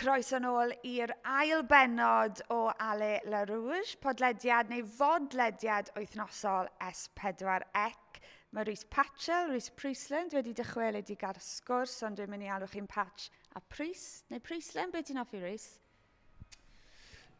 Croeso nôl i'r ail bennod o Ale La Rouge, podlediad neu fodlediad wythnosol S4C. Mae Rhys Patchell, Rhys Priestland, wedi dychwelyd gael sgwrs, ond dwi'n mynd i alw chi'n Patch a Prys, neu Priestland, beth ti'n offi Rhys?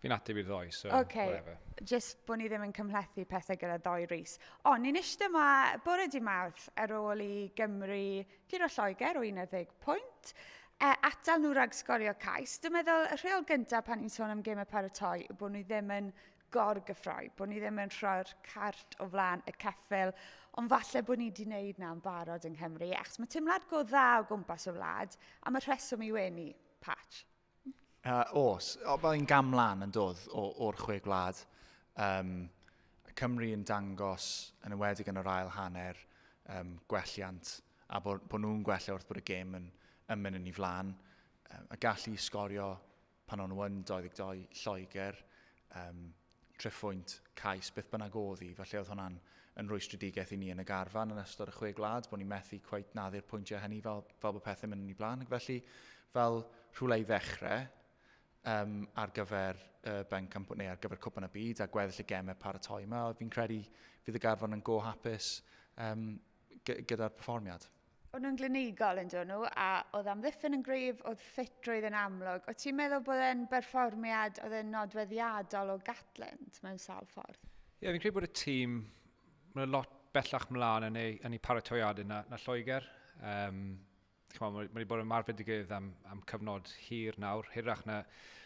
Fi'n ateb i'r ddoi, so okay. whatever. Just bod ni ddim yn cymhlethu pethau gyda ddoi Rhys. O, ni'n eisiau yma bore di mawrth ar ôl i Gymru Puro Lloegr o 11 pwynt. E, atal nhw rhag sgorio cais. Dwi'n meddwl, y rheol gyntaf pan ni'n sôn am gêm y paratoi yw bod nhw ddim yn gorgyffroi, bod ni ddim yn rhoi'r cart o flaen y ceffil, ond falle bod ni wedi wneud na yn barod yng Nghymru, achos mae teimlad go dda o gwmpas y wlad, am y rheswm i wenu, Pat. Uh, os, mae'n gam lan yn dod o'r chwe gwlad. Um, Cymru yn dangos, yn ymwedig yn yr ail hanner, um, gwelliant, a bod, bod nhw'n gwella wrth bod y gêm yn, yn mynd yn ei flaen. Um, a gallu sgorio pan o'n nhw'n 22 Lloegr, um, Trefhwynt, cais, beth bynnag oedd hi, falle oedd hwnna'n yn rwystredigaeth i ni yn y garfan yn ystod y chwe gwlad, bod ni'n methu cweit naddu'r pwyntiau hynny fel, fel bod pethau'n mynd yn ei blaen. Ac felly, fel rhywle i ddechrau, um, ar gyfer uh, Ben Cymru, neu ar gyfer Cwpan y Byd, a gweddill y gemau paratoi yma, fi'n credu fydd y garfan yn go hapus um, gyda'r perfformiad. O'n nhw'n glinigol yn dod nhw, a oedd amddiffyn yn grif, oedd ffitrwydd yn amlwg. O ti'n meddwl bod e'n berfformiad oedd e'n nodweddiadol o Gatland mewn sawl ffordd? Ie, yeah, fi'n credu bod y tîm, mae'n lot bellach mlaen yn ei, yn ei paratoiadau na, na Lloegr. Um, chwa, mae wedi bod yn marfedigydd am, am cyfnod hir nawr, hirach na,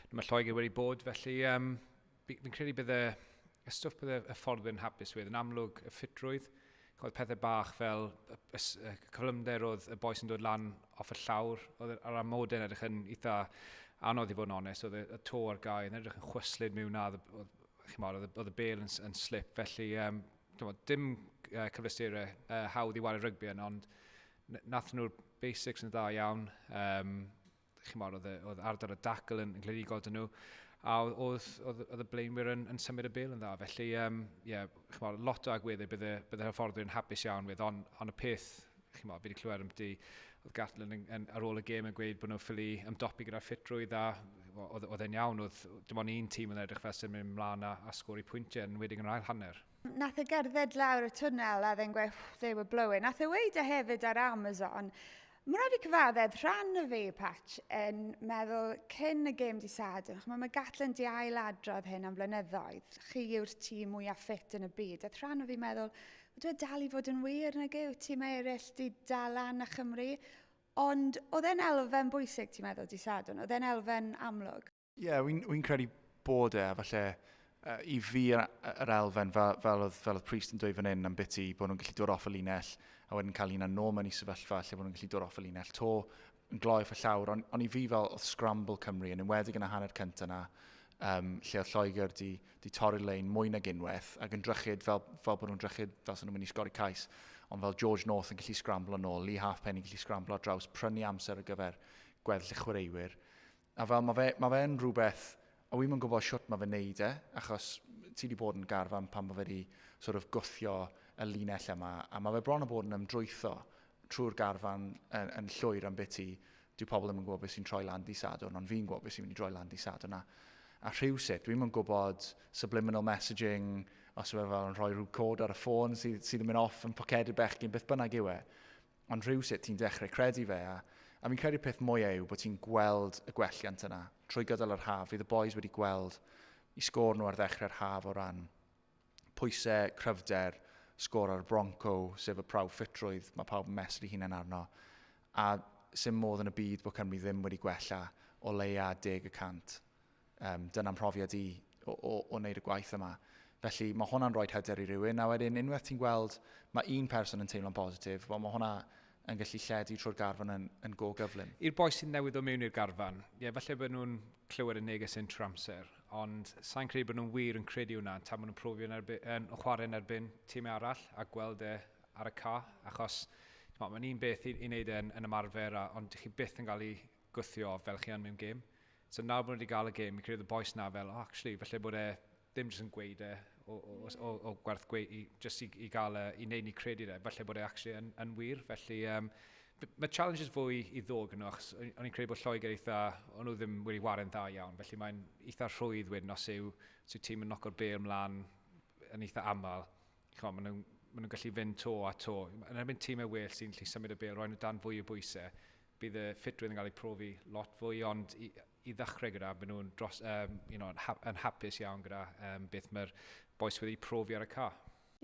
na mae Lloegr wedi bod, felly um, fi'n credu bydde y stwff bydde y ffordd yn hapus wedd, yn amlwg y ffitrwydd, oedd pethau bach fel y, y, y cyflymder oedd y boes yn dod lan off y llawr, oedd yr amodau yn edrych yn eitha anodd i fod yn onest, oedd y to ar gau yn edrych yn chwyslyd mewn na, oedd y bel yn, yn slip, felly um, dim uh, cyflesterau uh, hawdd i wario rygbi yn, ond Nath nhw'r basics yn dda iawn. Um, chymod, oedd, oedd ardal y dacl yn, yn glerigol dyn nhw. A oedd, oedd, oedd y blaenwyr yn, yn symud y bel yn dda. Felly, um, yeah, chymod, lot o agweddau bydde, bydde hyfforddwyr yn hapus iawn with, ond on y peth, chymod, fi wedi clywed am di, oedd Gatlin yn, yn, ar ôl y gêm yn gweud bod nhw'n ffili ymdopi gyda'r ffitrwydd a oedd, oedd e'n iawn, oedd dim ond un tîm yn edrych fel sy'n mynd mlaen a, a sgori pwyntiau yn wedi'n yr ail hanner. Nath e gerdded lawr y twnnel a then gweud, they were blowing. Nath e weud e hefyd ar Amazon. Mae rhaid fi cyfaddedd rhan o fi, Patch, yn meddwl cyn y gêm di sad. Mae ma Gatlin di ail adrodd hyn am flynyddoedd. Chi yw'r tîm mwyaf ffit yn y byd. Ath rhan o fi meddwl, dwi e dal i fod yn wir nag yw tîm eraill di dal lan a Chymru. Ond oedd e'n elfen bwysig, ti'n meddwl, di Sadwn? Oedd e'n elfen amlwg? Ie, yeah, wy'n wy credu bod e, a falle uh, i fi yr, yr elfen, fel, fel, oedd, fel oedd Priest yn dweud fan hyn am biti, bod nhw'n gallu dod off y linell, a wedyn cael un nôl mewn i sefyllfa lle bod nhw'n gallu dod off y linell to, yn gloi off y llawr, ond on i fi fel oedd scramble Cymru, yn enwedig yn y hanner cyntaf yna, um, lle oedd Lloegr di, di torri'r lein mwy nag unwaith, ac yn drychyd fel, fel bod nhw'n drychyd fel sy'n nhw'n mynd i sgori cais, ond fel George North yn gallu scramble yn ôl, Lee Halfpenny yn gallu scramble ar draws, prynu amser ar gyfer gweddill y chwaraewyr. A fel, ma fe, ma fe'n rhywbeth, a wi'm yn gwybod shwt ma fe'n neud e, achos ti di bod yn garfan pan ma fe di sort of gwthio y linell yma, a ma fe bron yn bod yn ymdrwytho trwy'r garfan yn, yn llwyr am biti. Dyw pobl ddim yn gwybod beth sy'n troi lan di Sadwrn, ond fi'n gwybod beth sy'n mynd i droi lan di Sadwrn. A, a rhywsut, dwi'm yn gwybod subliminal messaging, os yw e fel yn rhoi rhyw cod ar y ffôn sydd, sydd yn mynd off yn poced y bechgyn, beth bynnag yw e. Ond rhywsut ti'n dechrau credu fe a, a fi'n credu'r peth mwyaf yw bod ti'n gweld y gwelliant yna trwy gydol yr haf. Fydd y boys wedi gweld i sgôr nhw ar ddechrau'r haf o ran pwysau, cryfder, sgôr ar y Bronco, sef y prawf ffitrwydd, mae pawb yn mesur hunain arno. A sy'n modd yn y byd bod Cymru ddim wedi gwella o leia deg y cant Um, dyna mhrofiad i o, o, o wneud y gwaith yma. Felly mae hwnna'n rhoi hyder i rywun. A wedyn unwaith ti'n gweld mae un person yn teimlo'n positif, wel mae hwnna yn gallu lledu trwy'r garfan yn, yn go gyflym. I'r boi sy'n newydd o mewn i'r garfan, ie, falle bod nhw'n clywed y neges yn trwy amser, ond sa'n credu bod nhw'n wir yn credu hwnna, tan maen nhw'n profi yn, erbyn, yn chwarae yn erbyn tîm arall a gweld e ar y ca, achos mae'n un beth i, i wneud e yn, yn ymarfer, a, ond chi byth yn cael ei gwthio fel chi yn mewn gêm. So nawr bod nhw wedi cael y gêm, fi'n credu y boes na fel, oh, actually, falle bod e ddim jyst yn gweud e o, o, o, o, o gwerth gweud, i, jyst i, i gael e, i wneud ni credu e, falle bod e actually yn, yn wir. Felly, um, mae challenges fwy i ddod gyda nhw, achos o'n i'n credu bod Lloegr eitha, o'n nhw ddim wedi warin dda iawn, felly mae'n eitha rhwydd wedyn os yw, os yw tîm yn noco'r bel mlaen yn eitha aml. Chwa, maen nhw'n ma nhw gallu fynd to a to. Yn erbyn tîm e well sy'n lli symud y bel, roed nhw dan fwy o bwysau. Bydd y ffitrwydd yn cael eu profi lot fwy ond i, i ddechrau gyda, maen nhw'n dros, um, you know, yn, ha yn hapus iawn gyda um, beth mae'r boes wedi profi ar y car.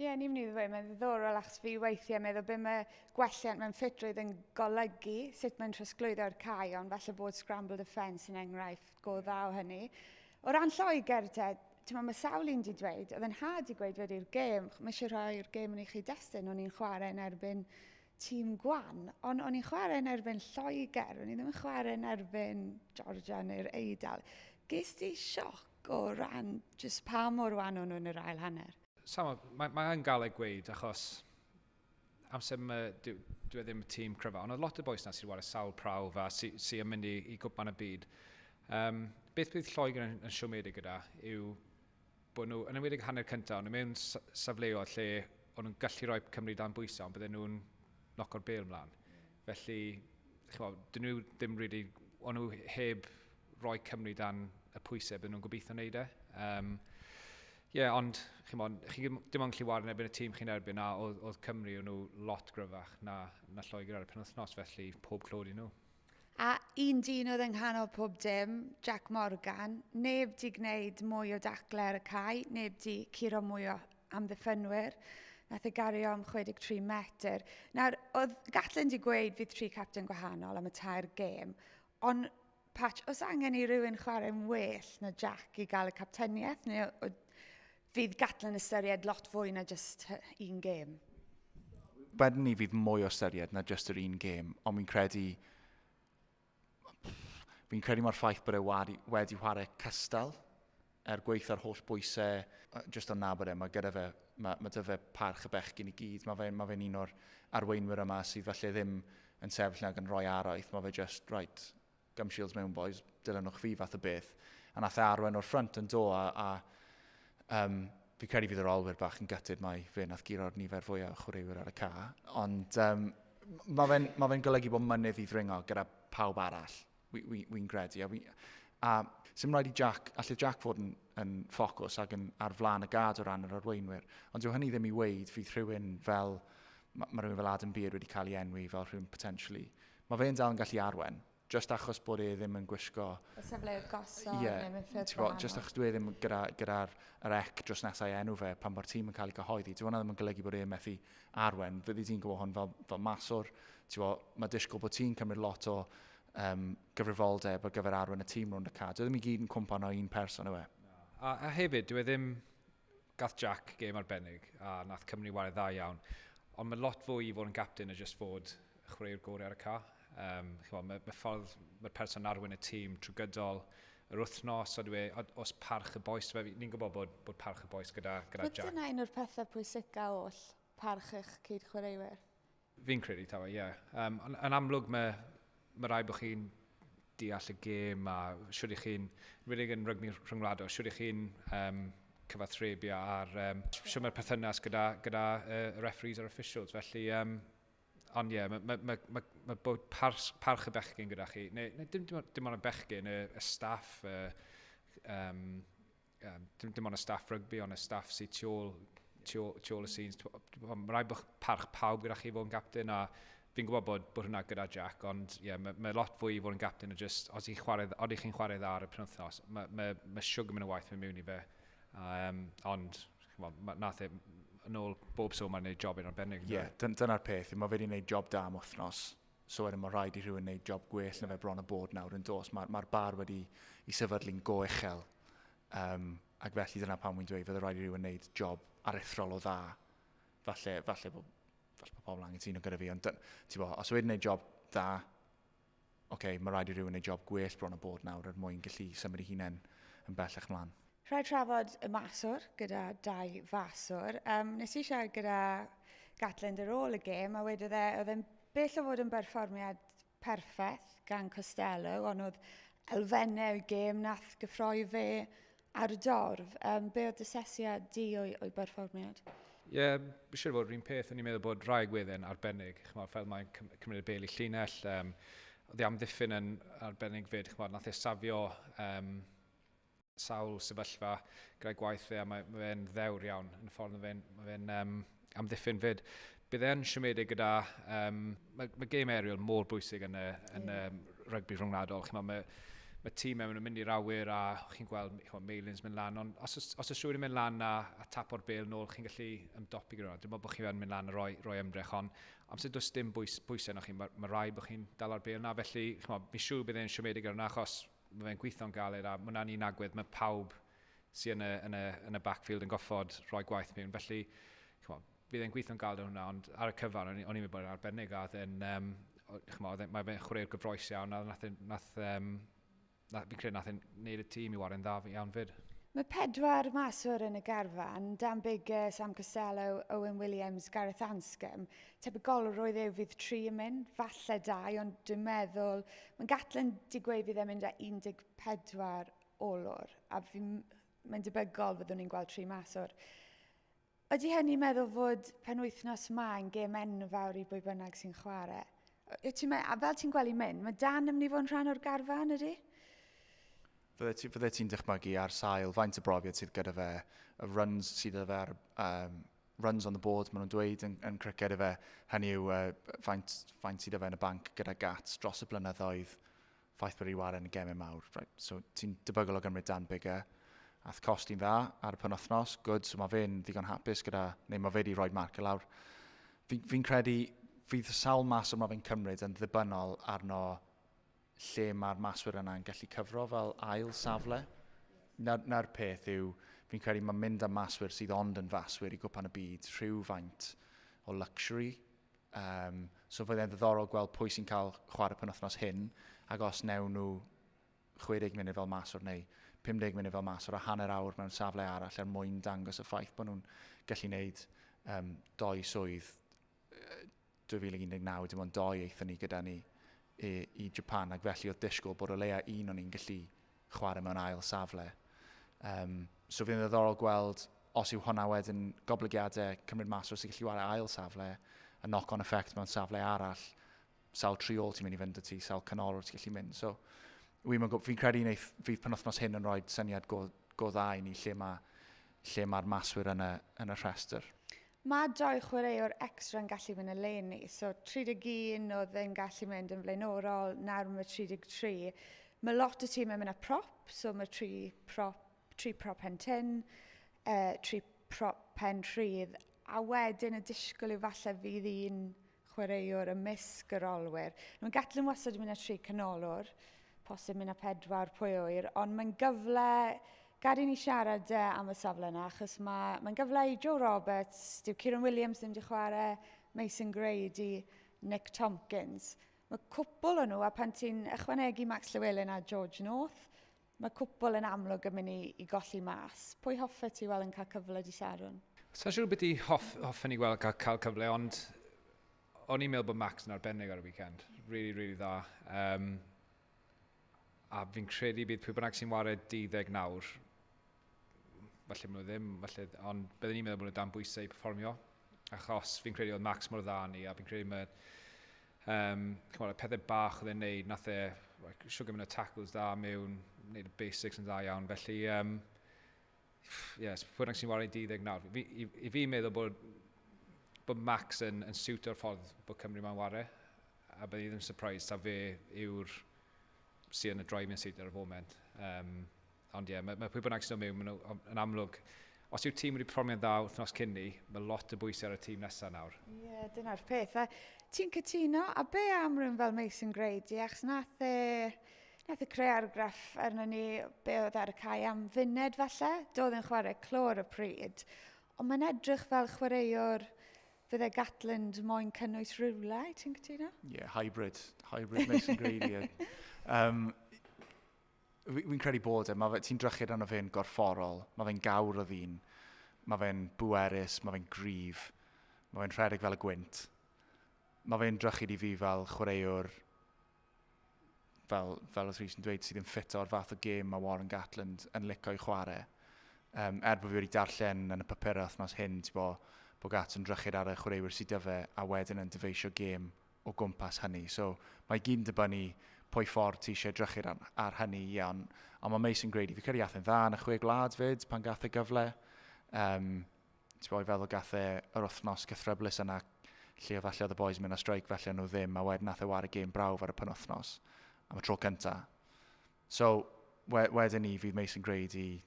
Ie, yeah, ni'n mynd i ddweud, mae'n ddiddorol achos fi weithiau meddwl beth mae gwelliant mewn ffitrwydd yn golygu, sut mae'n trosglwyddo'r cae, ond falle bod scrambled offence yn enghraifft go dda o hynny. O ran Lloegr te, ti'n mae sawl un di dweud, oedd yn had i gweud wedi'r gêm, mae eisiau rhoi'r gêm yn ei chi destun, o'n i'n chwarae yn erbyn tîm gwan, ond o'n i'n chwarae yn erbyn Lloegr, o'n i ddim yn chwarae yn erbyn Georgia neu'r Eidal. Ges di sioc o ran jyst pa mor wan o'n nhw yn yr ail hanner? Samo, mae, mae yn gael ei gweud achos amser yma, dwi, dwi e ddim y tîm cryfa, ond oedd lot o boes na sy'n wario sawl prawf a sy'n sy yn mynd i, i gwpan y byd. Um, beth bydd Lloegr yn, yn siomedig gyda yw bod nhw, yn enwedig hanner cyntaf, ond mewn safleoedd lle o'n nhw'n gallu rhoi Cymru dan bwysau, ond bydden nhw'n noco'r bel mlaen. Felly, chwa, dyn nhw ddim rili, really, o'n nhw heb roi Cymru dan y pwysau bydden nhw'n gobeithio wneud e. Um, yeah, ond chi, mon, chi dim ond gallu wario yn erbyn y tîm chi'n erbyn a oedd, oedd Cymru o'n nhw lot gryfach na, na Lloegr ar y penwythnos, felly pob clod i nhw. A un dyn oedd yng nghanol pob dim, Jack Morgan, neb 'di gwneud mwy o daclau ar y cae, neb 'di curo mwy o amddiffynwyr. Nath e gario am 63 metr. Nawr, oedd gallen di gweud fydd tri capten gwahanol am y tair gêm, ond Patch, os angen i rywun chwarae'n well na Jack i gael y capteniaeth, neu o, o, Fydd Gatland yn ystyried lot fwy na jyst un gêm? Wedyn ni fydd mwy o ystyried na jyst yr un gêm, ond fi'n credu fi'n credu mae'r ffaith bod e wedi, wedi chwarae cystal er gweith ar holl bwysau, jyst o'n nabod e, mae gyda fe, mae, mae dyfa parch y bechgyn i gyd, mae fe'n mae fe un o'r arweinwyr yma sydd falle ddim yn sefyll nag yn rhoi araith, mae fe just, right, Gum shields mewn bois, dilynwch fi fath o beth. A nath e arwen o'r ffrynt yn do a, a um, fi credu fydd yr olwyr bach yn gytid mae fe nath guro'r nifer fwyaf o chwaraewyr ar y ca. Ond um, mae fe'n ma fe golygu bod mynydd i ddringo gyda pawb arall, wy'n wi, wi credu. A, wi, a sy'n rhaid i Jack, allai Jack fod yn, yn ffocws ac yn ar flaen y gad o ran yr arweinwyr. Ond dyw hynny ddim i weid fydd rhywun fel, mae ma rhywun fel Adam Beard wedi cael ei enwi fel rhywun potentially Mae fe'n dal yn gallu arwain, jyst achos bod e ddim yn gwisgo... Y safleoedd gosod neu mewn ffyrdd gwahanol. Ie, ti'n gwybod, jyst achos dyw e ddim gyda'r ec dros nes a'i enw fe pan fo'r tîm yn cael ei gyhoeddi. Dyw hwnna ddim yn golygu bod e'n methu arwain. Fyddi di'n gwybod hwn fel, fel maswr, ti'n gwybod, mae disgwyl bod ti'n cymryd lot o um, gyfrifoldeb ar gyfer arwain y tîm rownd y cad. Dyw e ddim i gyd yn cwmpan o un person yw e. A, a hefyd, dyw e ddim gath Jack gêm arbennig a nath Cymru wario dda iawn. Ond mae lot fwy i fod yn gapten na jyst fod chwaraewr gorau ar y ca. Um, chwa, mae, mae ffordd mae'r person arwain y tîm trwy gydol yr wythnos, ond dwi, e, os parch y boes, ni'n gwybod bod, bod parch y boes gyda, gyda Jack. Mae dyna un o'r pethau pwysicaf oll, parch eich cyd chwaraewyr. Fi'n credu taw e, ie. Um, yn, yn amlwg mae, mae rai bod chi'n deall y gêm a siwr i chi'n, rydych yn rygmi rhyngwladol, siwr i chi'n um, cyfathrebu ar um, siwr mae'r perthynas gyda, gyda uh, referees a'r officials. Felly, um, ond ie, yeah, mae ma, ma, ma, ma bod parch, parch y bechgyn gyda chi, neu, neu dim, dim, dim ond y bechgyn, y, y staff, y, um, um, dim, dim ond y staff rygbi, ond y staff sydd tu ôl, tu ôl, tu ôl y scenes. Mae rhaid bod parch pawb gyda chi fod yn gapten a fi'n gwybod bod, bod hwnna gyda Jack, ond yeah, mae, ma lot fwy i fod yn gapten o just, os ydych chwarae, odi chi'n chwarae dda ar y penwthnos, mae ma, ma siwg yn mynd y waith mewn miwn i fe. Um, ond, chymod, ma, nath e, yn ôl bob so, mae'n gwneud job yn arbennig. Ie, yeah, dyna'r peth. Mae fe wedi gwneud job da am wythnos. So wedyn mae rhaid i rhywun wneud job gwell na fe bron a bod nawr yn dos. Mae'r mae bar wedi i sefydlu'n go uchel. Um, ac felly dyna pam wy'n dweud, fydde rhaid i rhywun wneud job arethrol o dda. Falle, falle bod falle bod pobl angen sy'n gyda fi, ond ti'n bo, os wedyn wneud job dda, oce, okay, mae rhaid i rhywun wneud job gwell bron a bod nawr er mwyn gallu symud i hunain yn bellach mlaen. Rhaid trafod y maswr gyda dau faswr. Um, nes i siarad gyda Gatland ar ôl y gêm a wedodd e, oedd e'n bell o fod yn berfformiad perffaith gan Costello, ond oedd elfennau y gêm nath gyffroi fe ar y dorf. Um, be oedd dysesiad di o'i, o'i berfformiad? Ie, yeah, siwr fod rhywun peth, o'n i'n meddwl bod rhai gwedden arbennig, chymod, fel mae'n cymryd y bel i llinell, um, oedd ei amddiffyn yn arbennig fyd, chymod, nath e safio um, sawl sefyllfa gyda'i gwaith fe a mae, mae fe'n ddewr iawn yn y ffordd mae fe'n mae fe um, amddiffyn fyd. Bydd e'n siomedig gyda... Um, mae, mae game aerial mor bwysig yn y, yn y um, rygbi rhwngwladol. Chymod, mae, mae tîm mewn yn mynd i'r awyr a chi'n gweld chymod, Meilins mynd lan. Ond os, os, os ys rhywun yn mynd lan a, a tap o'r bel nôl, chi'n gallu ymdopi gyda hwnna. Dwi'n meddwl bod chi'n mynd lan a roi, roi ymdrech. Ond amser does dim bwys, bwysau yna chi, mae, mae rai bod chi'n dal ar bel na. Felly, chymod, mi siw bydd e'n siomedig ar yna achos Mae fe'n gweithio'n galed a mae hwnna'n un agwedd mae pawb sydd yn y, yn y, yn y backfield yn goffod rhoi gwaith mewn. Felly, chmo, bydd e'n gweithio'n galed yn hwnna, ond ar y cyfan, o'n i'n meddwl bod e'n arbennig a oedd e'n, um, chmo, e, mae fe'n chwarae'r gyfroes iawn a nath, nath, um, nath, fi'n credu nath e'n neud y tîm i wario'n dda iawn fyd. Mae pedwar maswr yn y garfan, Dan Biggar, Sam Costello, Owen Williams, Gareth Anscombe, Tebygol roedd eu fydd tri yn mynd, falle dau, ond dwi'n meddwl... Mae Gatlin di gweud fydd e'n mynd â 14 olwr, a mae'n debygol fyddwn ni'n gweld tri mas o'r... Ydy hynny'n meddwl fod penwythnos ma yn gêm enfawr i bwy bynnag sy'n chwarae? Ti me, a fel ti'n gweld mynd, mae Dan yn mynd i fod yn rhan o'r garfan ydy? Fydde ti'n ti dychmygu ar sail faint y brofiad sydd gyda fe, y runs sydd gyda fe ar um, runs on the board, maen nhw'n dweud yn, yn criced efe, hynny yw uh, faint, faint sydd efe yn y banc gyda gat dros y blynyddoedd, ffaith bod wedi waren yn gemau mawr. Right. So ti'n debygol o gymryd Dan Bigger, ath cost i'n dda ar y penwthnos, good, so mae fe'n ddigon hapus gyda, neu mae fe wedi rhoi marc y lawr. Fi'n fi, credu, fydd sawl mas yma fe'n cymryd yn ddibynnol arno lle mae'r maswyr yna yn gallu cyfro fel ail safle. Na'r, na'r peth yw, fi'n credu mae mynd am maswyr sydd ond yn faswyr i gwpan y byd rhywfaint o luxury. Um, so fydd e'n ddiddorol gweld pwy sy'n cael chwarae penwthnos hyn, ac os newn nhw 60 munud fel maswr neu 50 munud fel maswr a hanner awr mewn safle arall er mwyn dangos y ffaith bod nhw'n gallu gwneud um, doi swydd 2019, dim ond dou aethon ni gyda ni i, i Japan ac felly oedd disgwyl bod o leia un o'n ni'n gallu chwarae mewn ail safle. Um, so fydd yn ddoddorol gweld os yw hwnna wedyn goblygiadau cymryd mas os ydych chi'n wario ail safle, y knock-on effect mewn safle arall, sawl tri ôl ti'n mynd i fynd y ti, sawl canol ti'n gallu mynd. So, fi'n fi credu wneud, fydd penwthnos hyn yn rhoi syniad go, go dda i ni lle mae lle mae'r maswyr yn y, yn y rhestr. Mae dau chwaraewr extra yn gallu mynd eleni, so 31 oedd yn gallu mynd yn flaenorol, nawr mae 33. Mae lot o tîmau mynd â prop, so mae tri prop, tri prop pen tin, uh, tri prop pen rhydd, a wedyn y disgwyl yw falle fydd un chwaraewr ymysg yr olwyr. Mae Gatlin wastad yn mynd â tri canolwr, posib mynd â pedwar pwy oer, ond mae'n gyfle, gad i ni siarad uh, am y safle yna, achos mae, mae'n gyfle i Joe Roberts, dyw Kieran Williams ddim wedi chwarae, Mason Grady, Nick Tompkins. Mae cwpl o nhw, a pan ti'n ychwanegu Max Llewellyn a George North, Mae cwpl yn amlwg yn mynd i, i golli mas. Pwy hoffet ti weld yn cael cyfle di Sharon? Sa'n siŵr beth i hoff, hoffen i weld cael, cael cyfle, ond o'n i'n meddwl bod Max yn arbennig ar y weekend. Really, really dda. Um, a fi'n credu bydd pwy bynnag sy'n wared 19 nawr falle maen nhw ddim, falle, ond byddwn i'n meddwl bod nhw dan bwysau i performio, achos fi'n credu oedd Max mor dda ni, a fi'n credu mae um, chymod, y pethau bach oedd e'n neud, nath e, like, siw gymryd y tackles dda mewn, neud y basics yn dda iawn, felly, um, yes, pwy'n rhaid sy'n wario 12 nawr, fi, i, i fi meddwl bod, bod Max yn, yn siwt o'r ffordd bod Cymru mae'n wario, a byddwn i ddim surprised ta fe yw'r sy'n y droi mewn siwt ar y foment. Um, Ond ie, yeah, mae, mae pwy bynnag sy'n mewn, maen yn amlwg, os yw tîm wedi promion dda wythnos cyn ni, mae lot o bwysau ar y tîm nesaf nawr. Ie, yeah, dyna'r peth. A ti'n cytuno, a be am rhywun fel Mason Grady, achos nath e, nath e creu argraff arno ni be oedd ar y cae am funed falle, doedd yn chwarae clor y pryd, ond mae'n edrych fel chwaraewr fydde Gatland moyn cynnwys rhywle, ti'n cytuno? Ie, yeah, hybrid. Hybrid Mason Grady. um, fi'n credu bod e, mae fe, ti'n drychyd arno fe'n gorfforol, mae fe'n gawr o ddyn, mae fe'n bwerus, mae fe'n grif, mae fe'n rhedeg fel y gwynt. Mae fe'n drychyd i fi fel chwaraewr, fel, fel os rhys yn dweud, sydd ddim ffit o'r fath o gêm mae Warren Gatland yn licio i chwarae. Um, er bod fi wedi darllen yn y papurau wythnos hyn, ti'n bod, bod Gats yn drychyd ar y chwaraewyr sydd dyfe a wedyn yn dyfeisio gêm o gwmpas hynny. So, mae i gyd yn dibynnu pwy ffordd ti eisiau edrychu ar, ar hynny, ie, ond, ond mae Mason Grady, fi credu athyn dda yn y chwe gwlad fyd pan gath e gyfle. Um, ti'n boi feddwl gath e yr wythnos cythryblus yna lle oedd allu oedd y boys mynd a straic felly nhw ddim, a wedyn nath e war y gêm brawf ar y penwthnos am y tro cynta. So, wedyn ni fydd Mason Grady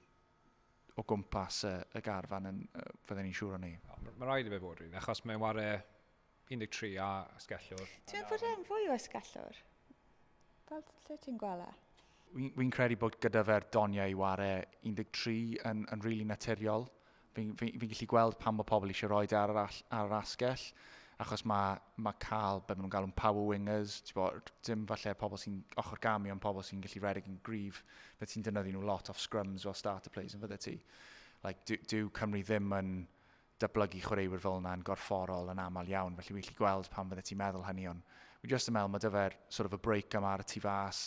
o gwmpas y, y garfan yn, uh, fydden ni'n siŵr o ni. Mae rhaid i fe fod rhywun, achos mae'n ware 13 a ysgellwr. Ti'n fod e'n fwy o ysgellwr? Fel lle ti'n gwella? Fi'n fi credu bod gyda fe'r doniau i ware 13 yn, yn rili really naturiol. Fi'n fi, fi gallu gweld pan mae pobl eisiau rhoi ar, ar, ar yr asgell, achos mae, mae cael beth maen nhw'n galw'n power wingers, ti'n bod, dim falle pobl sy'n ochr gamu, ond pobl sy'n gallu redeg yn gryf Bydde ti'n dynyddu nhw lot off scrums fel starter players yn fydde ti. Like, dyw, dyw Cymru ddim yn dyblygu chwaraewyr fel yna yn gorfforol yn aml iawn, felly wy'n lli gweld pan fydde ti'n meddwl hynny, ond wy'n just yn meddwl mae dyfer sort of a break yma ar y tu fas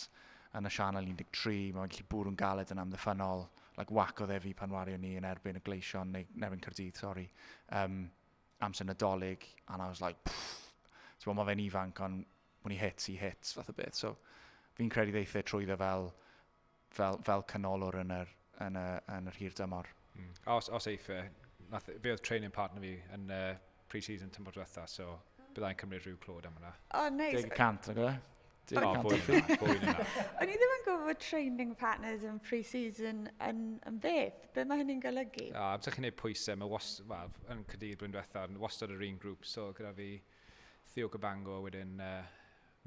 yn y sianel 13, mae'n gallu bwrw'n galed yn amddiffynol, like whack o ddefu pan wario ni yn erbyn y gleision, neu yn erbyn Cyrdydd, sori, um, amser nadolig, and I was like, pfff, ti'n bod, mae fe'n ifanc, ond when he hits, he hits, fath o beth. So, fi'n credu ddeith e trwy dda fel, fel, fel canolwr yn yr, yn y, yn yr hir dymor. Mm. Os, os eith e, nath, fe oedd training partner fi yn uh, pre-season tymor diwetha, so byddai'n cymryd rhyw clod am hwnna. O, oh, neis. Nice. Deg y cant, nag oedd e? Deg y cant. O'n i ddim yn gwybod bod training partners yn pre-season yn, yn beth. Be mae hynny'n golygu? O, amser chi'n gwneud pwysau, mae was, well, yn cydydd blwyddyn diwetha, wastad yr un grŵp, so gyda fi, Theo Cabango a wedyn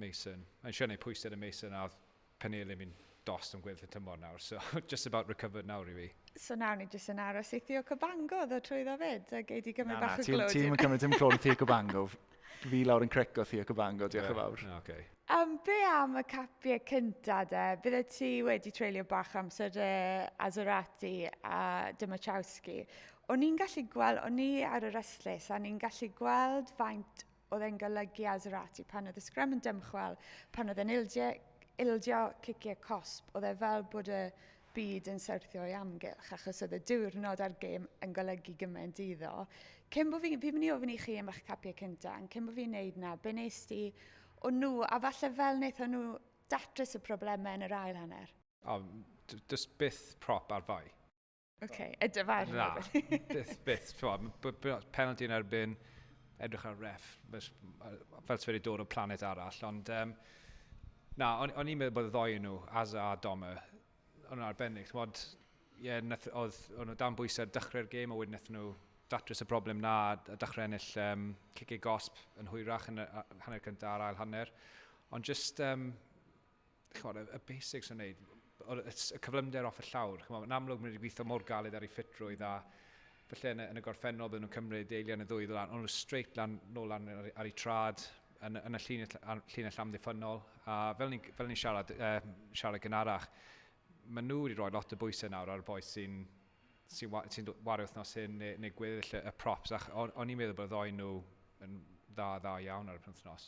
Mason. Mae'n siŵr neu pwysedd y Mason a oedd Penelin fi'n dost am gweddill y tymor nawr, so just about recovered nawr i fi. So nawr ni jyst yn aros i Theo Cabango ddod trwyddo fyd a gei di gymryd bach o glod. Ti'n cymryd dim clod Theo Cabango. Fi lawr yn creco Theo Cabango, diolch yn fawr. Okay. Um, be am y capiau cynta de? Bydde ti wedi treulio bach amser de Azorati a Dymachowski. O'n i'n gallu gweld, o'n i ar yr ystlys, a ni'n gallu gweld faint oedd e'n golygu Azerati pan oedd y sgrym yn dymchwel, pan oedd e'n ildio, ildio ciciau cosp, oedd e fel bod y byd yn syrthio i amgylch, achos oedd y diwrnod a'r gêm yn golygu gymaint iddo. Cyn bod fi, fi'n mynd i ofyn i chi am eich capiau cyntaf, yn cyn bod fi'n neud na, be nes ti o nhw, a falle fel wnaethon nhw datrys y problemau yn yr ail hanner? O, just byth prop ar fai. OK, y dyfar. Na, byth, byth. Penalty yn erbyn, edrych ar ref, fel ti wedi dod o planet arall, ond um, na, o'n, on i'n meddwl bod y ddoi nhw, Aza a Doma, o'n arbennig. Mod, ie, yeah, nath, oedd, o'n nhw dan bwysau dechrau'r gêm, a wedyn nath nhw datrys y broblem na, a dechrau ennill um, cicig gosb yn hwyrach yn y hanner cyntaf a'r ail hanner. Ond just, um, chymod, y, y basics yn neud, y, y cyflymder off y llawr. Chymod, yn amlwg, maen nhw wedi gweithio mor galed ar ei ffitrwydd a felly yn y, yn y gorffennol bydden nhw'n cymryd eiliad yn y ddwy lan, ond nhw straight lan, nôl lan ar, ar ei trad yn, yn y llinell, llinell amddiffynol. A fel ni'n fel ni siarad, uh, siarad gynharach, maen nhw wedi rhoi lot o bwysau nawr ar y boes sy'n sy'n wa, sy wario wythnos hyn neu, neu gweddill y, y props. Ac o'n, on i'n meddwl bod y ddoen nhw yn dda, dda iawn ar y penthnos.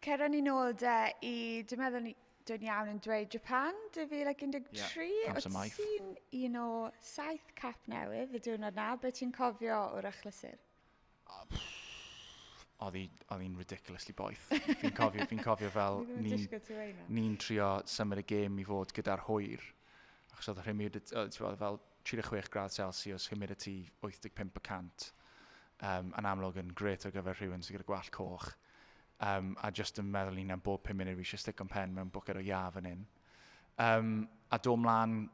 Cer â ni'n ôl de i, dwi'n meddwl ni, dwi'n iawn yn dweud Japan 2013. Yeah, pam sy'n maith. Ti'n un o saith cap newydd y diwrnod na, beth ti'n cofio o'r achlysur? oedd hi'n ridiculously boeth. Fi'n cofio, fi'n cofio fel ni'n ni trio symud y gêm i fod gyda'r hwyr. Achos oedd y rhymud, ti'n fel 36 gradd celsius, humidity 85 y cant, um, yn amlwg yn gret ar gyfer rhywun sydd gyda gwallt coch. Um, a jyst yn meddwl ni'n am bob 5 munud fi eisiau stick o'n pen mewn bwced o iaf fan hyn. Um, a do mlaen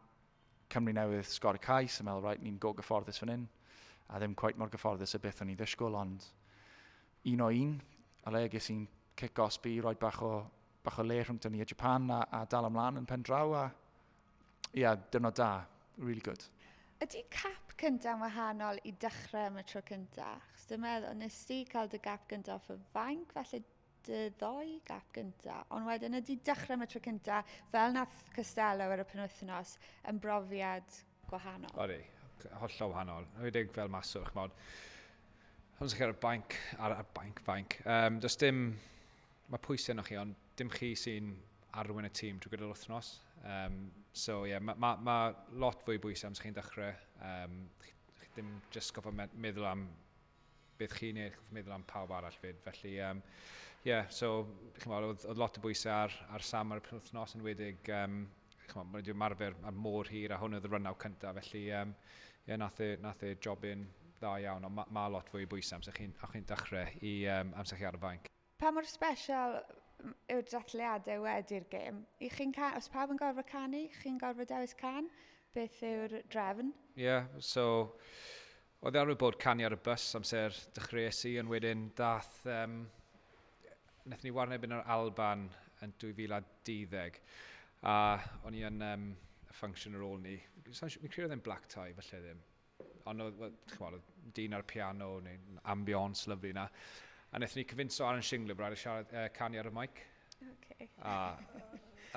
Cymru Newydd sgor y cais yn meddwl, right, ni'n go gyfforddus fan hyn. A ddim quite mor gyfforddus y beth o'n i ddysgwyl, ond un o un, a le ges i'n cic osbi, roi bach o, bach o le rhwng ni a Japan a, a dal ymlaen yn pen draw a ia, dyrnod da. Really good. Ydy cap cynta'n wahanol i dechrau am y tro cyntaf? Chos dwi'n meddwl, nes ti cael dy gap gyntaf off y fainc, felly dy ddoi gap gyntaf. Ond wedyn ydy dechrau am y tro cyntaf, fel nath Costello ar y penwythnos, yn brofiad gwahanol. Odi, hollol wahanol. Rwydig fel maswr, chymod. Ond sy'n cael y bainc, ar y bainc, fainc. Um, does dim Mae pwysau arnoch chi, ond dim chi sy'n arwain y tîm drwy gydol wythnos. Um, so, ie, yeah, mae ma, ma lot fwy bwysau amser chi'n dechrau. Um, chi, chi ddim just goffa meddwl am beth chi'n neud, chi'n meddwl am pawb arall fyd. Felly, ie, um, yeah, so, chi'n meddwl, oedd, oedd lot o bwysau ar, ar Sam ar y penwthnos yn wedig, um, chi'n meddwl, mae'n marfer ar môr hir, a hwn oedd y rynaw cyntaf, felly, ie, um, yeah, nath e, nath e jobyn dda iawn, ond mae ma lot fwy bwysau amser chi'n chi dechrau i um, amser chi ar y fainc. Pa mor special yw'r dathliadau wedi'r gêm? I chi'n ca- os pawb yn gorfod canu, chi'n gorfod dewis can? Beth yw'r drefn? Ie, yeah, so oedd e arfer bod canu ar y bus amser dechreuais i, ond wedyn dath, um, wnaethon ni warneb yn yr Alban yn 2012, a o'n i yn um, y function ar ôl ni, fi'n credu oedd e'n black tie, falle ddim, Ond oedd, oedd, chymod, oedd dyn ar y piano, neu'n ambiance lyflu yna. A wnaethon ni cyfinso Aaron Shingler brad i siarad, uh, canu ar y mic. Okay. A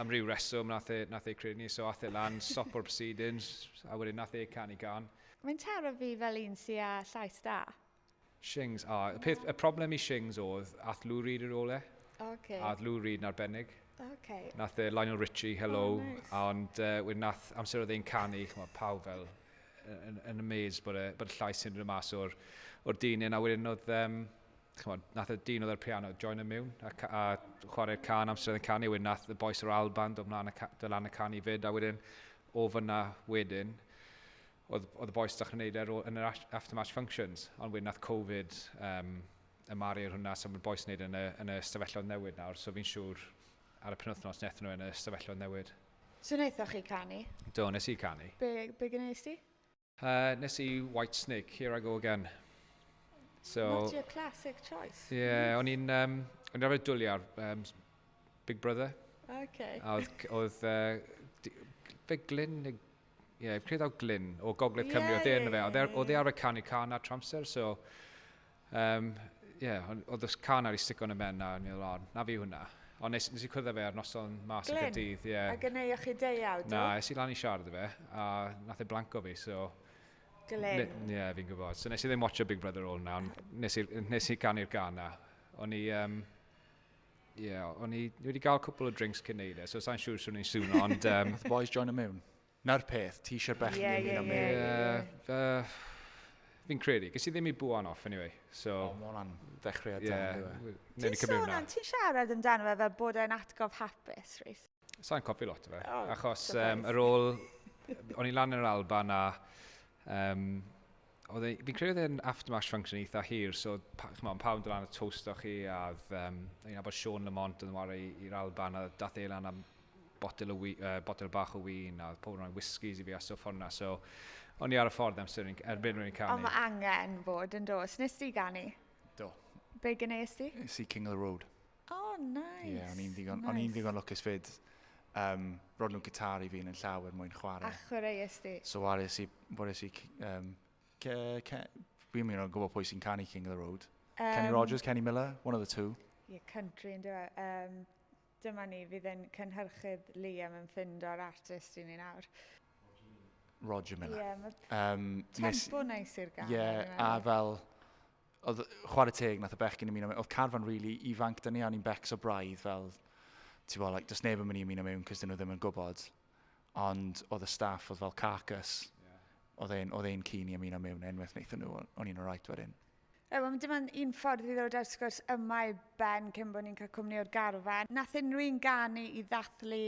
am ryw reswm nath e, nath e credu ni, so ath e lan, stop o'r proceedings, a wedyn nath e canu gan. Mae'n taro fi fel un sy'n â llais da. Shings, o, y peth, y problem i Shings oedd ath Lou Reed i'r ole. Ok. A oedd Lou Reed yn arbennig. Ok. Nath e Lionel Richie, hello. Oh, nice. Ond uh, wedyn nath amser oedd e'n canu, chymod, pawb fel yn, yn amazed bod, e, bod y llais yn rhywun mas o'r, or dyn. A wedyn oedd, um, chymod, nath y dyn oedd ar piano, join y mewn, a, a chwarae'r can amser oedd e'n canu. Wedyn nath y boes o'r Alban dod mlaen y, dod lan y canu fyd. A wedyn, o fyna wedyn, oedd, oedd y bois dach chi'n neud e yn yr aftermatch functions, ond wedyn nath Covid um, ymaru ar hwnna, so mae'r bois yn neud yn y, yn y stafelloedd newid nawr, so fi'n siŵr ar y penwthnos nethon nhw yn y stafelloedd newid. So wnaethoch chi canu? Do, nes i canu. Be, be gynnais ti? Uh, nes i White Snake, Here I Go Again. So, Not your classic choice. Ie, yeah, o'n i'n um, on rhaid dwlu ar um, Big Brother. Okay. A oedd, oedd uh, fe Glyn neu Ie, fi'n credu daw Glyn o Gogledd yeah, Cymru, oedd e yeah, yna fe. Oedd e, e yeah. arfer canu can ar tramser, so... Um, yeah, oedd y can ar ei stico yn y men na, ni oedd na fi hwnna. Ond nes, nes i cwrdd fe ar noson mas y gydydd. Ie. A gynneu o'ch chi deiawd? Na, es i lan i siarad y fe, a nath e blanco fi, so... Glyn. Ie, yeah, fi'n gwybod. So nes i ddim watcho Big Brother All na, nes i, nes i canu'r gan na. O'n i... Um, Ie, yeah, o'n i wedi cael cwpl o drinks cyn neud e, so sa'n siŵr swn i'n sŵn, ond... Um... the boys join a mewn. Na'r peth, ti eisiau'r bechgyn yeah, yeah, am yeah, yeah, yeah. Fi'n credu, gys i ddim i bwan off anyway. So, oh, mae hwnna'n ddechreuad yeah, da. Yeah. Ti'n sôn am, ti'n siarad amdano fe fel bod e'n atgof hapus, Rhys? Sa'n cofi lot o fe, oh, achos um, yr ôl, o'n i lan yn yr Alban a um, oedd e, fi'n credu oedd e'n aftermash function eitha hir, so pa, chymod, pawb yn dod lan y toast o'ch chi, a oedd, um, i'n abod Sean Lamont yn wario i'r Alban, a dath ei lan am botel, o wy, uh, botel bach o wyn, a pob yn rhoi whiskies i fi a stwff hwnna, so o'n i ar y ffordd amser yn, erbyn rwy'n canu. Ond mae angen bod yn dos, nes ti ganu? Do. Be gynneuais ti? Nes i King of the Road. O, oh, nice. Ie, yeah, o'n i'n ddigon, nice. on ddigon lwcus fyd. Um, Rod nhw gitar i fi yn y llawer mwyn chwarae. A chwarae ysdi. So wares i, wares i, um, ke, ke, fi'n mynd o'n gwybod pwy sy'n canu King of the Road. Um, Kenny Rogers, Kenny Miller, one of the two. Ie, yeah, country yn dweud. E? Um, dyma ni, fydd yn cynhyrchydd Liam yn ffind o'r artist i ni nawr. Roger Miller. Ie, yeah, mae um, tempo nes, nice i'r gan. Ie, yeah, a fel, oedd chwarae teg, nath y bechgyn ymuno mewn, oedd carfan really ifanc dyn ni, a ni'n becs o braidd fel, ti'n bod, like, does neb yn mynd i ymuno mewn, cys dyn nhw ddim yn gwybod. Ond oedd y staff, oedd fel carcass, yeah. oedd ein, oedd ein cyn i ymuno mewn, enwaith wnaethon nhw, o'n i'n rhaid wedyn. E, well, dim ond un ffordd i ddod ar sgwrs yma i ben cyn bod ni'n cael cwmni o'r garfan. Nath unrhyw un ganu i ddathlu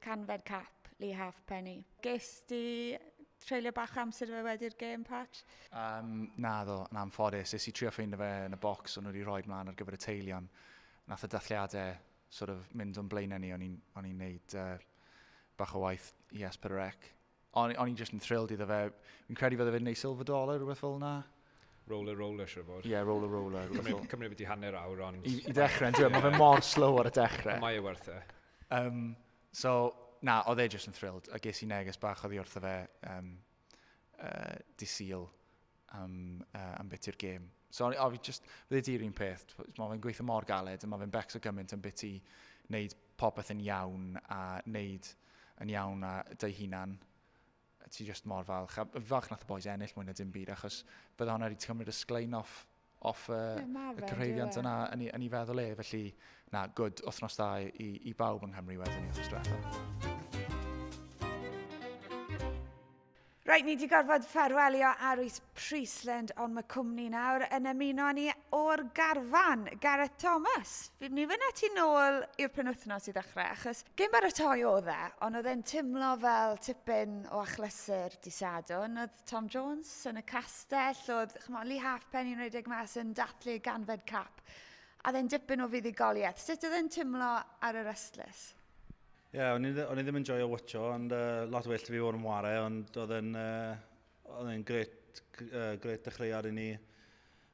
canfed cap Lee Halfpenny. Ges di treulio bach amser fe wedi'r gêm, Pat? Um, na ddo, yn anffodus. Nes i trio ffeindio fe yn y bocs o'n wedi rhoi mlaen ar gyfer y teilion. Nath y dathliadau sort of, mynd o'n blaenau ni, o'n i'n neud uh, bach o waith i Esper Rec. O'n i'n just yn thrilled iddo fe. Fi'n credu fydde fe'n neud silver dollar, rhywbeth fel yna. Roller Roller, siwr fod. Ie, yeah, Roller Roller. Cymru, Cymru wedi hanner awr, ond... I, i ddechrau, yn dweud, mae fe mor slow ar y dechrau. Mae e werth e. Um, So, na, oedd e jyst yn thrilled, a ges i neges bach oddi wrtho fe um, uh, di Sul am, uh, am beth i'r gêm. So, o, fi just, fydde di'r un peth, mae fe'n gweithio mor galed, a mae fe'n becs o gymaint am beth i wneud popeth yn iawn, a wneud yn iawn a dy hunan. a ti jyst mor falch. A falch nath y boys ennill mwy na dim byd, achos bydde hwnna wedi cymryd y sglein off, off y, yeah, y cyfreiriant yna yn ei, yn ei feddwl e. Felly, na, gwyd wythnos da i, i bawb yng Nghymru wedyn ni wythnos diwethaf. Rhaid ni wedi gorfod ffarwelio Arwys Priestland ond mae cwmni nawr yn ymuno â ni o'r garfan, Gareth Thomas. Fi'n mynd i fynd â ti nôl i'r penwythnos i ddechrau, achos gêm baratoi oedd e, ond oedd e'n timlo fel tipyn o achlysur di Sadwn. Oedd Tom Jones yn y castell, oedd chmo, Lee Halfpenny yn rhedeg mas yn dathlu ganfed cap, a oedd e'n dipyn o fuddugoliaeth. Sut oedd e'n timlo ar yr ystlys? Ie, yeah, o'n i ddim yn joio watcho, ond uh, lot well fi fod yn ware, ond oedd e'n uh, Oedd e'n gret, gret dechreuad i ni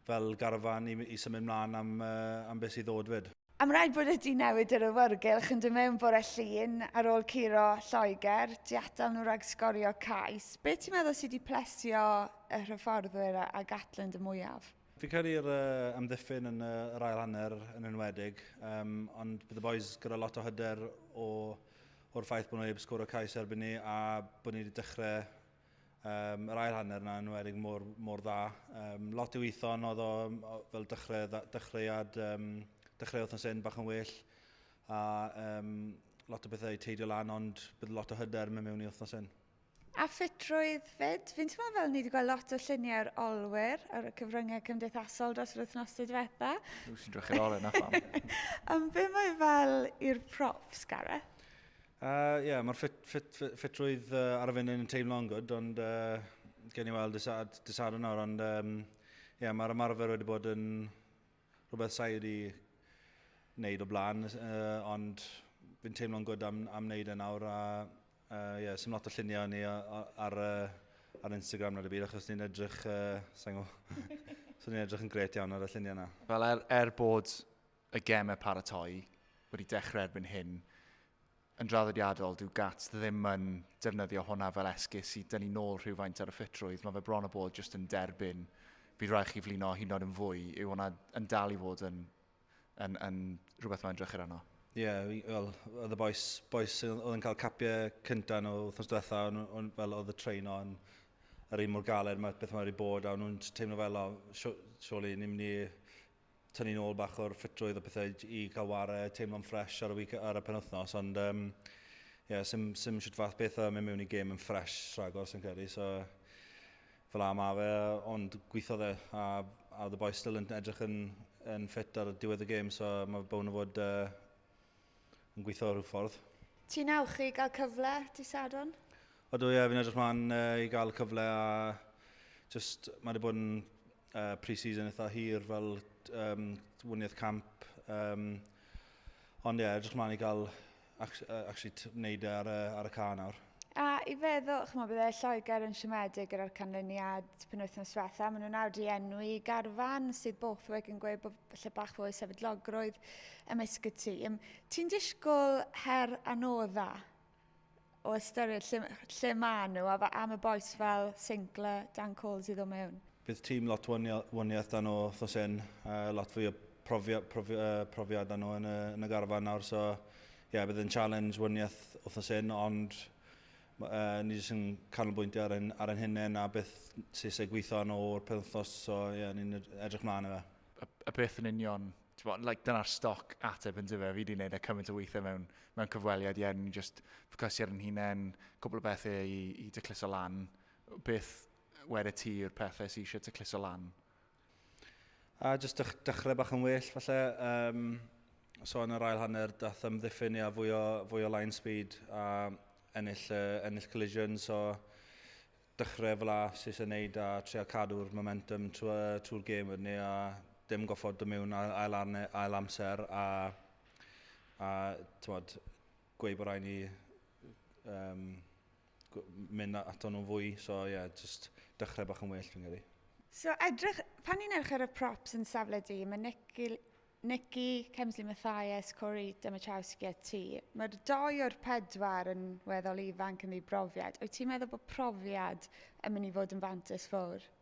fel garfan i, i symud mlaen am, am beth sydd ddod fyd. Am rhaid bod wedi newid yr awyrgylch yn dod mewn bore Llun ar ôl curo Lloegr, tu atal nhw rhag sgorio cais. Be ti'n meddwl sydd wedi plesio y hyfforddwyr a, a Gatland y mwyaf? Fi'n credu'r uh, amddiffyn yn uh, yr ail hanner yn enwedig, um, ond bydd y boys gyda lot o hyder o, o'r ffaith bod nhw heb sgwr o cais erbyn ni a bod ni wedi dechrau Um, yr ail hanner yna yn enwedig mor, mor dda. Um, lot i weithio ond oedd o fel dechrau, dechreuad, um, dechreu wythnos un bach yn well. A um, lot o bethau i teidio lan ond bydd lot o hyder mewn mewn i wythnos un. A ffitrwydd fyd, fi'n teimlo fel ni wedi gweld lot o lluniau'r olwyr ar y cyfryngau cymdeithasol dros yr wythnosau diwetha. Dwi'n sy'n drach i'r oren, na pham. Am be mae fel i'r props, Gareth? Uh, ie, yeah, mae'r ffit, ffit, ffit, ffitrwydd uh, ar y funud yn teimlo'n gwrdd, ond uh, gen i weld dysad yna, ond um, yeah, mae'r ymarfer wedi bod yn rhywbeth sa'i wedi wneud o blaen, uh, ond fi'n teimlo'n gwrdd am, am wneud e nawr, a uh, yeah, sy'n lot o lluniau ni ar, uh, ar Instagram nad y byd, achos ni'n edrych, uh, sa'n gwybod, so ni'n edrych yn gret iawn ar y lluniau yna. Fel er, er bod y gemau paratoi wedi dechrau erbyn hyn, yn draddodiadol, dyw Gats ddim yn defnyddio hwnna fel esgus i dynnu nôl rhywfaint ar y ffitrwydd. Mae fe bron o bod jyst yn derbyn, bydd rhaid chi flino hyd yn oed yn fwy, yw hwnna yn dal i fod yn, yn, yn rhywbeth mae'n drychyd arno? Ie, yeah, wel, oedd y boes, boes oedd yn cael capiau cyntaf nhw wrthnos diwetha, ond fel oedd y train o'n yr un mor galed, mae beth mae'n rhaid bod, a nhw'n teimlo fel, o, surely ni'n mynd i tynnu nôl bach o'r ffitrwydd a pethau i cael ware, teimlo'n ffresh ar y, week, ar y penwthnos, ond um, yeah, sy'n sim siwt fath beth a mynd mewn i gêm yn ffresh rhagor sy'n credu, so fel am a fe, ond gweithodd e, a, a the boys still yn edrych yn, yn ffit ar y diwedd y gêm, so mae bown o fod uh, yn gweithio rhyw ffordd. Ti'n awch i gael cyfle dy Sadwrn? Odw ie, fi'n edrych mlaen uh, i gael cyfle a just, mae wedi bod yn uh, pre-season eitha hir fel um, wyniaeth camp. Um, ond ie, yeah, edrych mlaen i gael actually wneud e ar, ar y ca nawr. A i feddwl, chymod, bydde Lloegr yn siomedig gyda'r canlyniad penwythnos diwetha. Maen nhw'n awd i enwi garfan sydd Borthwick yn gweud bod lle bach fwy sefydlogrwydd ymysg y tîm. Ti'n disgwyl her anodda o ystyried lle, lle maen nhw a am y boes fel Sinclair, Dan Coles i ddod mewn? Bydd tîm lot waniaeth dan o thos hyn, uh, lot fwy o profiad, profi, uh, profiad dan nhw yn y, yn y garfan nawr, so yeah, bydd yn challenge wyniaeth wythnos hyn, ond uh, ni jyst yn canolbwyntio ar ein, ar ein hunain a beth sy'n eisiau gweithio yn o'r penwthnos, so yeah, ni'n edrych mlaen i fe. A, a beth yn union, bod, like, dyna'r stoc ateb yn dyfa, fi wedi gwneud e cymaint o weithiau mewn, mewn cyfweliad, ie, yeah, ni'n just ffocysu ar ein hunain, cwbl o bethau i, i dycluso lan. Beth wedi ti yw'r pethau sy'n eisiau dycluso lan? A jyst dechrau bach yn well, falle, um, so yn yr ail hanner, dath ymddiffyn ia, fwy, o, fwy o line speed a ennill, uh, ennill collision, so dechrau fel a sy'n eisiau gwneud a trio cadw'r momentum trwy'r trwy gêm wedyn ni a dim goffod dy mewn ail, arne, ail amser a, a tywod, gweud bod rhaid ni um, mynd ato nhw'n fwy. So ie, yeah, just dechrau bach yn well fi'n credu. So edrych, pan ni'n edrych ar y props yn safle di, mae Nicky, Nicky Kemsley Mathias, Corey Demachowski a ti. Mae'r doi o'r pedwar yn weddol ifanc yn ddi brofiad. Wyt ti'n meddwl bod profiad yn mynd i fod yn fantes fawr?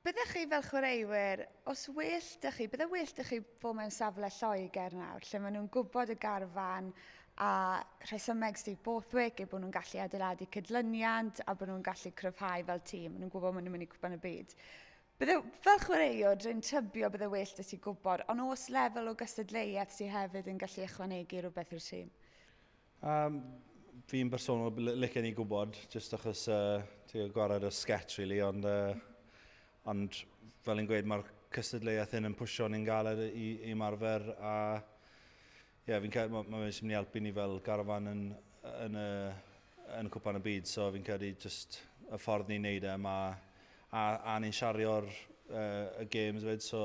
Byddech chi fel chwaraewyr, os well da chi, bydde well da chi fod mewn safle Lloegr nawr, lle maen nhw'n gwybod y garfan a rhesymeg Steve Borthwick eu bod nhw'n gallu adeiladu cydlyniant a bod nhw'n gallu cryfhau fel tîm. Maen nhw'n gwybod maen nhw'n mynd i cwpan y byd. Bydde, fel chwaraewr, dwi'n tybio bydde well da ti gwybod, ond os lefel o gystadleuaeth sydd hefyd yn gallu ychwanegu rhywbeth i'r tîm. Um, fi'n bersonol licen i gwybod, jyst achos uh, ti'n gwared o sketch, really, ond, uh, ond fel yn gweud, mae'r cystadleuaeth hyn yn pwysio ni'n galed i, i marfer, a ie, yeah, fi'n cael, mae'n ma mynd i helpu ni fel garfan yn, yn, yn, yn cwpan y byd, so fi'n credu jyst y ffordd ni'n neud e, mae, a, a ni'n siario'r uh, y games fyd, so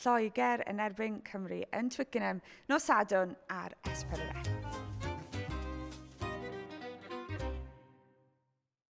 Lloegr yn erbyn Cymru yn Twickenham nos Sadwrn ar S4C.